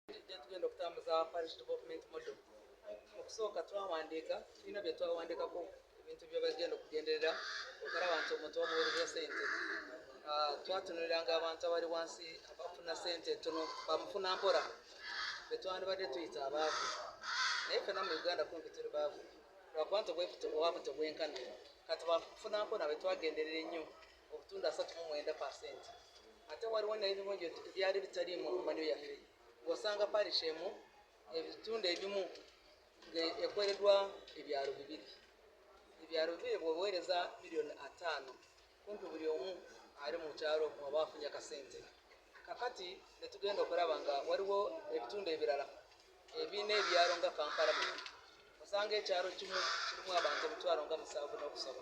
tujja tugenda okutambuza parish development model mu kusooka twawandiika tulina bye twawandiikako ebintu bye bagenda okugenderera okulaba nti omuntu bamuwereza sente ah, twatunuliranga abantu abali wansi abafuna sente tono bamufuna mpola betwandibadde tuyita abaavu naye fena mu uganda kumpi tuli baavu lwakuba nti obwavu tebwenkana kati bamufuna mpola betwagenderera ennyo okutunda asatu mu mwenda pasenti ate waliwo nebimu byali bitali mu manyo yaffe ng'osanga parish emu ebitundu ebimu ng'ekweredwa ebyalo bibiri ebyalo bibiri bweweereza miliyoni ataano kumpi buli omu ali mu kyalo mwaba afunye akasente kakati netugenda okulaba nga waliwo ebitundu ebirala ebirina ebyalo nga kampala muno osanga ekyalo kimu kirimu abantu emitwalo nga musanvu n'okusoba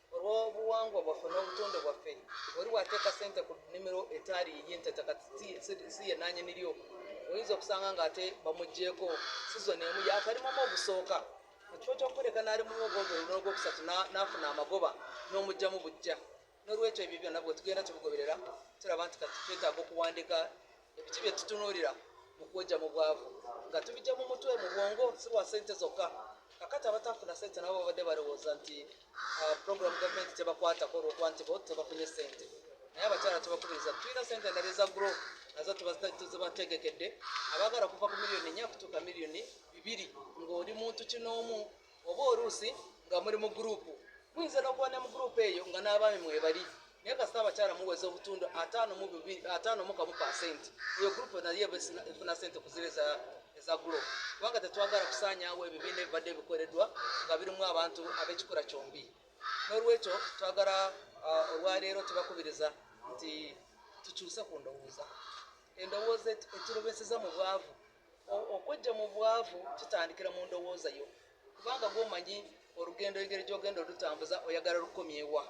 olw'obuwangwa bwaffe n'obutonde bwaffe oli wateeka sente ku nimiro etaali yiye nti ettaka si ye nanyini lyo oyinza okusanga ng'ate bamugyeko sizoni emu yakalimamu obusooka mu kifo ky'okukuleka n'ali mu muwogogo oluno ogwokusatu n'afuna amagoba n'omugyamu bujja n'olwekyo ebyo byonna bwe tugenda tubigoberera tulaba nti kati twetaaga okuwandika Ebiki bye tutunuulira mu kwoja mu bwavu nga tubijja mu mutwe mu bwongo si lwa sente zokka. Kakati abatafuna sente nabo babadde balowooza nti uh, program gavumenti tebakwatako olwokuba nti bo tebafunye sente naye abakyala tubakubiriza tulina sente endala eza gro nazo tuzibategekedde abaagala okuva ku miliyoni nya kutuuka miliyoni bibiri ng'oli muntu kinoomu oba oluusi nga muli mu gurupu muyinza n'okuba ne mu gurupu eyo nga n'abaami mwebali naye kasita abakyala muweza obutundu ataano mu kamu pasenti eyo gurupu naye efuna sente kuzira eza gurupu kubanga tetwagala kusaanyawo ebibiina ebibadde bikoleddwa nga birimu abantu ab'ekikula kyombi n'olwekyo twagala uh, olwaleero tubakubiriza nti tukyuse ku ndowooza endowooza eturobeseza mu bwavu Okweggya mu bwavu kitandikira mu ndowooza yo kubanga gwe omanyi olugendo engeri gy'ogenda olutambuza oyagala lukomyewa.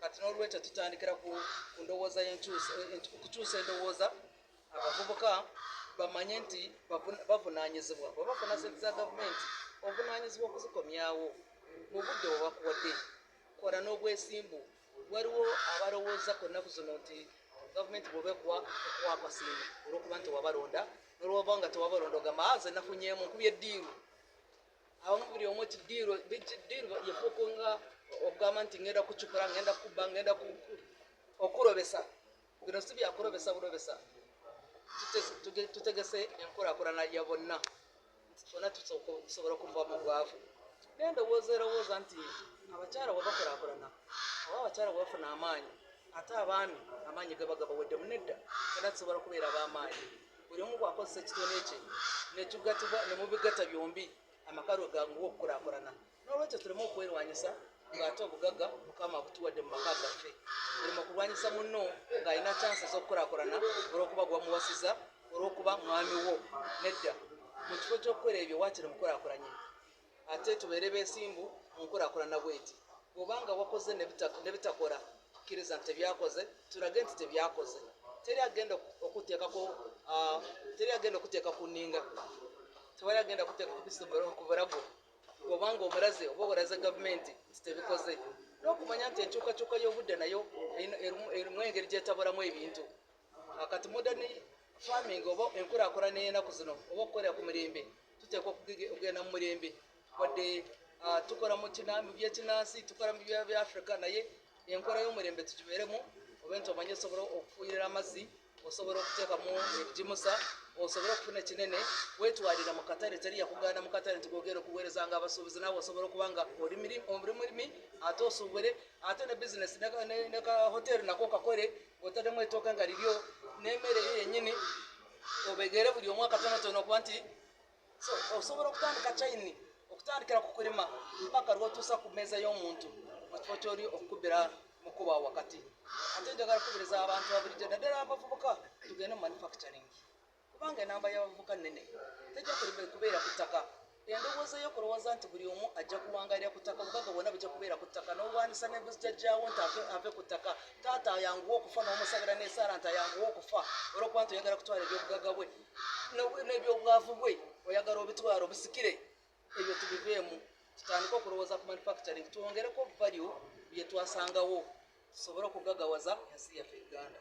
Kati n'olwekyo tutandikira ku ndowooza okukyusa endowooza abavubuka bamanye nti bavunaanyizibwa bwe bafuna sente za gavumenti obuvunaanyizibwa okuzikomyawo mu budde bwe bakuwadde kola n'obwesimbu. waliwo abalowooza ku nnaku zino nti gavumenti bwoba ekuwa ekuwa akasiimo olwokuba nti wabalonda nolwoba nga tewabalonda ogamba ah, nze nafunyeemu nkubye diiru abamu buli omu ti diiru diiru yefuuku nga okugamba nti ngenda kucukula ngenda kubba ngenda okulobesa bino si byakulobesa bulobesa tutegese enkulakulana ya bonna nti fona tusobola okuva mu bwavu naye ndowooza erowooza nti abakyala webakulakulana oba abakyala webafuna amaanyi ate abaami amaanyi gabagabawedde munedda fona tusobola okubeera abamaanyi buli omu bwakozesa ekitone ekye netugatibwa nemubigata byombi amaka lwe ganguwa okukulakulana n'olwekyo tuleme okwerwanyisa ng'ate obugagga mukama abutuwadde mu maka gaffe olema kulwanyisa munno ng'alina kyansi ez'okukulakulana olw'okuba gwamuwasiza olw'okuba mwami wo nedda mu kifo ky'okukola ebyo waakiri mukulakulanye ate tubeere beesimbu mu nkulakulana bweti bw'obanga wakoze ne bitakola tukkiriza nti tebyakoze tulage nti tebyakoze teri agenda okuteekako ah, teri agenda okuteeka ku nninga tewali agenda kuteeka ku bisomero okubulago oba nga omulaze oba olaze gavumenti nti tebikoze n'okumanya nti enkyukakyuka y'obudde nayo erimu engeri gyetabulamu ebintu akati modern farming oba enkulakulana eyenaku zino oba okukolera ku mirembe tuteekwa okugenda mu mirembe wadde ah, tukola mu byekinansi tukola mu bya africa naye enkola y'omulembe tugibeeremu oba nti omanye osobola okufuuyirira amazzi osobola okuteekamu ebigimusa osobole okufuna ekinene wetwalira mu katale teri yakugaana mu katale nti gogenda okuweereza nga abasuubuzi naawe osobola okuba nga oli mulimi ate osuubule ate ne bizinesi ne ka hoteeri nako kakole ng'otaddemu etooka nga liryo n'emmere yo yennyini obegere buli omu akatonotono okuba nti So, osobola okutandika kyayini okutandikira ku kulima mpaka lwotuusa ku mmeeza y'omuntu mu kifo kyoli okukubira mukuba wakati ate njagala kukubiriza abantu babulijjo naddala abavubuka tugende mu manufacturing kubanga enamba y'abavubuka nnene tejja kubeera ku ttaka endowooza y'okulowooza nti buli omu ajja kuwangalira ku ttaka obugaga bwonna bujja kubeera ku ttaka n'olwanyisa nebuzijajjawo nti ave ku ttaka taata ayanguwa okufa n'omusabira n'esaala nti ayanguwa okufa olwokuba nti oyagala kutwala ebyobugaga bwe n'ebyobwavu bwe oyagala obitwala obusikire ebyo tubiveemu tutandike okulowooza ku manufacturing twongereko value bye twasangawo tusobole okugagawaza ensi yaffe uganda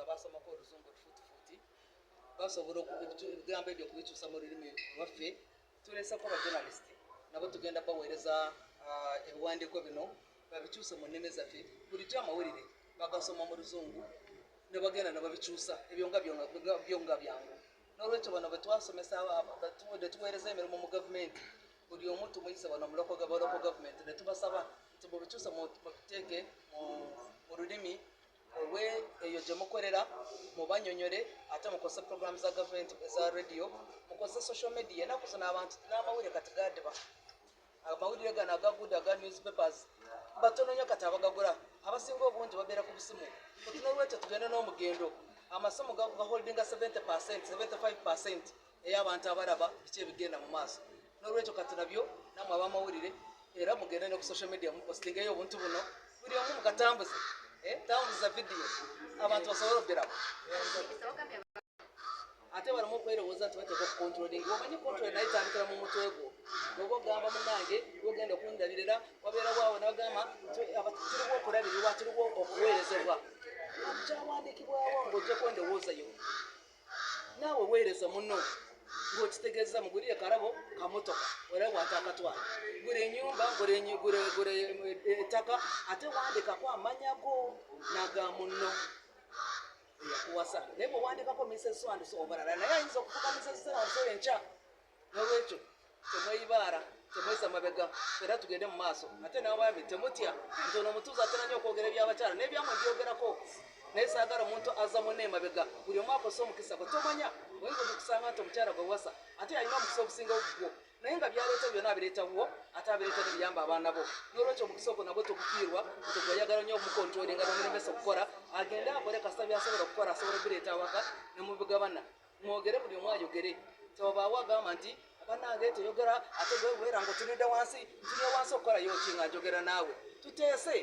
abaasomako oluzungu tufutufuti basobola ebigambo ebyo okubikyusa mu lulimi lwaffe tuleseko abajournalist nabo tugenda baweereza ah, ebiwandiiko bino babikyuse mu nnimi zaffe bulijjo amawulire bagasoma mu luzungu ne bagenda ne babikyusa ebyo nga byo nga byangu n'olwekyo bano betwasomesa netuweereza emirimu mu gavumenti buli omu tumuyise bano muloko gavumenti netubasaba nti mubikyuse muteeke mu lulimi Muwe eyo gye mukolera, mubanyonyole ate mukozese pulogulaamu za gavumenti eza rediyo, mukozese social media. Ennaku zino abantu n'amawulire kati gaadiba. Amawulire gano agaguda aga newspapers batono nnyo kati abagagula, abasinga obungi babeera ku busimu. Kati n'olwekyo tugende n'omugendo, amasimu gaholdinga 70 percent, 75 percent. eyo abantu abalaba biki ebigenda mu maaso n'olwekyo katulabyo namwe abamawulire era mugende ne ku social media mupostingeyo obuntu buno buli omu mukatambuze eh, tambuza vidiyo abantu basobole okugeramu ate balamu okwerowooza nti bateeka okukontrolinga omanyi kontrole naye tandikira mu mutwe gwo oba ogamba munange ogenda okundabirira wabeerawo awo nagamba tiriwo okulabirirwa tiriwo okuweerezebwa kyawandiikibwawo ngaogyeko endowooza yo naawe weereza muno ng'okitegezza mu guli ekarabo kamotoka era wata akatwala gula enyumba gula ettaka ate wandikako amanya go naga munno eyakuwasa naye bwewandikako miseswandiso obalala naye ayinza okufuka miseswandiso enkya nolwekyo temweyibaara temwesa mabega era tugende mu maaso ate nabaami temutya nti ono omutuuzi atera nyo okwogera ebyabakyala nebyamwe byogerako naye saagala omuntu aza mune emabega buli omu akosa omukisa gwe tomanya oyinza okusanga nti omukyala gwe wasa ate yalina omukisa ogusinga ogugwo naye nga byaleeta byona abireeta wo ate abireeta nebiyamba abaana bo nolwekyo omukisa ogwo nagwe togufiirwa nti gweyagala nyo omukontrolinga nomulemesa okukola agende akole kasita byasobola okukola asobola oguleeta awaka nemubigabana mwogere buli omu ayogere tewabaawo agamba nti banange teyogera ate gwewera nga otunudde wansi ntuye wansi okukola yoki nga njogera naawe tuteese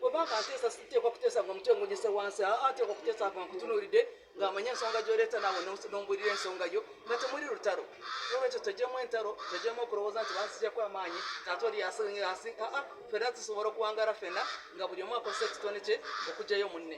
webanga nteesa siteekwa kuteesa nga omutwe ngunyise wansi aa teekwa kuteesa nga nkutunuulidde ng'amanye ensonga gyoleeta naawe nombulira ensonga yo nga temuli lutalo nolwekyo tegyemu entalo tegyemu okulowooza nti bansijaku amaanyi taata oli yasingaasi aa fena tusobola okuwangala fena nga buli omu akozesa ekitone kye okugyayo munne